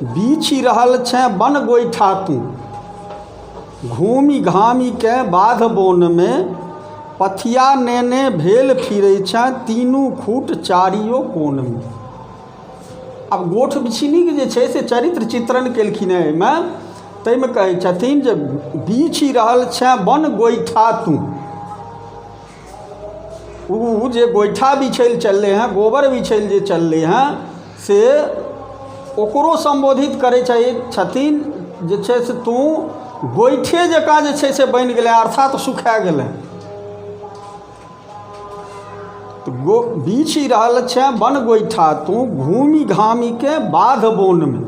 बीछि रहल छेँ बन गोइठा तूँ घूमि घामिकेँ बाध बोनमे पथिया नेने भेल फिरै छेँ तीनू खूट चारियो कोनमे आब गोठ बिछिनीके जे छै से चरित्र चित्रण केलखिन हेँ एहिमे ताहिमे कहै छथिन जे बीछि रहल छेँ बन गोइठा तूँ ओ जे गोइठा बिछै ले चललै हँ गोबर बिछै ले जे चललै हँ से ओकरो सम्बोधित करै चाही छथिन जे छै से तू गोइठे जकाँ जे छै से बनि गेलैए अर्थात सुखा गेलैए तऽ गो बीछि रहल छेँ बन गोइठा तू घूमि घामिके बाध बोनमे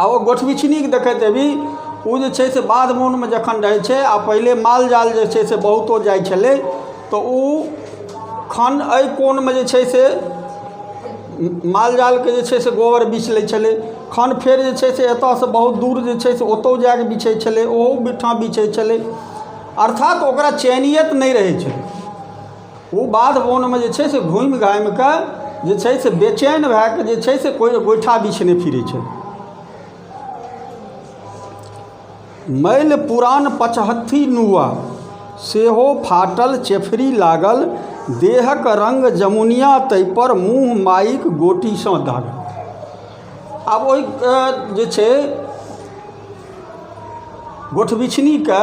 आ ओ गोठबिछनी देखैत हेबही ओ जे छै से बाध बोनमे जखन रहै छै आ पहिले माल जाल जे छै से बहुतो जाइ छलै तऽ ओ खन एहि कोनमे जे छै से माल जालके जे छै से गोबर बीछ लै छलै खन फेर जे छै से एतऽसँ बहुत दूर जे छै से ओतहु जा कऽ बीछै छलै ओहूठाम बीछै छलै अर्थात ओकरा चयनियत नहि रहै छलै ओ बाध बोनमे जे छै से घुमि घामि कऽ जे छै से बेचैन भए कऽ जे छै से कोइ गोइठा बिछने फिरै छै मैल पुरान पचहत्थी नुआ सेहो फाटल चेफरी लागल देहक रंग जमुनिया ताहिपर मुँह माइक गोटीसँ दागल आब ओहि अ, जे छै गोठबिछनीके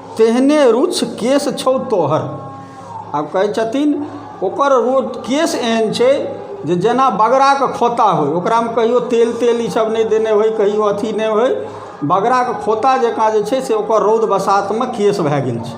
तेहने रुक्ष केश छौ तोहर। आब कहै छथिन ओकर केश एहन छै जे जेना बगराके खोता होइ ओकरामे कहियो तेल तेल ई सब नहि देने होइ कहियो अथी नहि होइ बगराके खोता जकाँ जे छै से ओकर रौद बसातमे केश भए गेल छै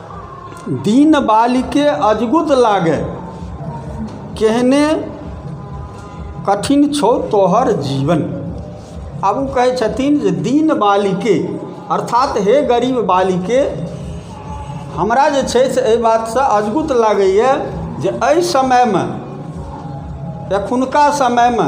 दीन बालिके अजगुत लागे केहने कठिन छौ तोहर जीवन आब ओ कहै छथिन जे दीन बालिके अर्थात हे गरीब बालिके हमरा जे छै से एहि बातसँ अजगुत लागैए जे एहि समयमे एखुनका समयमे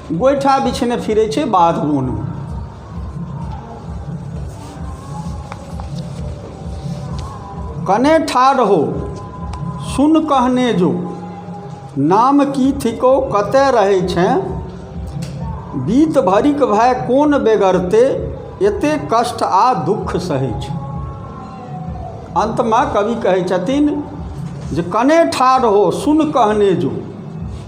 गोइठा बिछेने फिरै छै बाध बोनमे कने ठाढ़ हो सुन कहने जो नाम की थिको कतय रहै छै बीत भरिक भय कोन बेगरते एते कष्ट आ दुख सहै छै अन्तमे कवि कहै छथिन जे कने ठाढ़ हो सुन कहने जो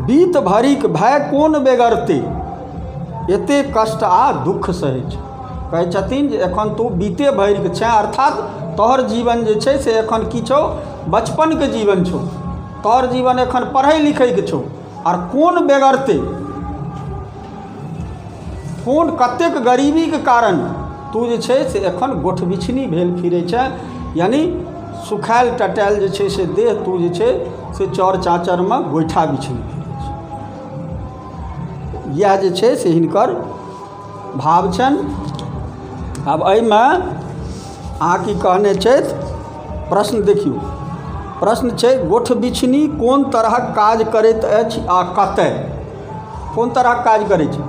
बीत भरिक भय कोन बेगरते एते कष्ट आ दुःख सहै छै कहै छथिन जे एखन तू बीते भरिक छै अर्थात तोहर जीवन जे छै से एखन की छौ बचपनके जीवन छौ तोहर जीवन एखन पढ़ै लिखैके छौ आर कोन बेगरते कोन कतेक गरीबीके कारण तू जे छै से एखन गोठबिछनी भेल फिरै छै यानि सुखायल टटायल जे छै से देह तू जे छै से चौर चाँचरमे गोइठा बिछनी फिरै छै इएह जे छै से हिनकर भाव छनि आब एहिमे अहाँ की कहने छथि प्रश्न देखियौ प्रश्न छै गोठ बिछनी कोन तरहक काज करैत अछि आ कतय कोन तरहक काज करै छै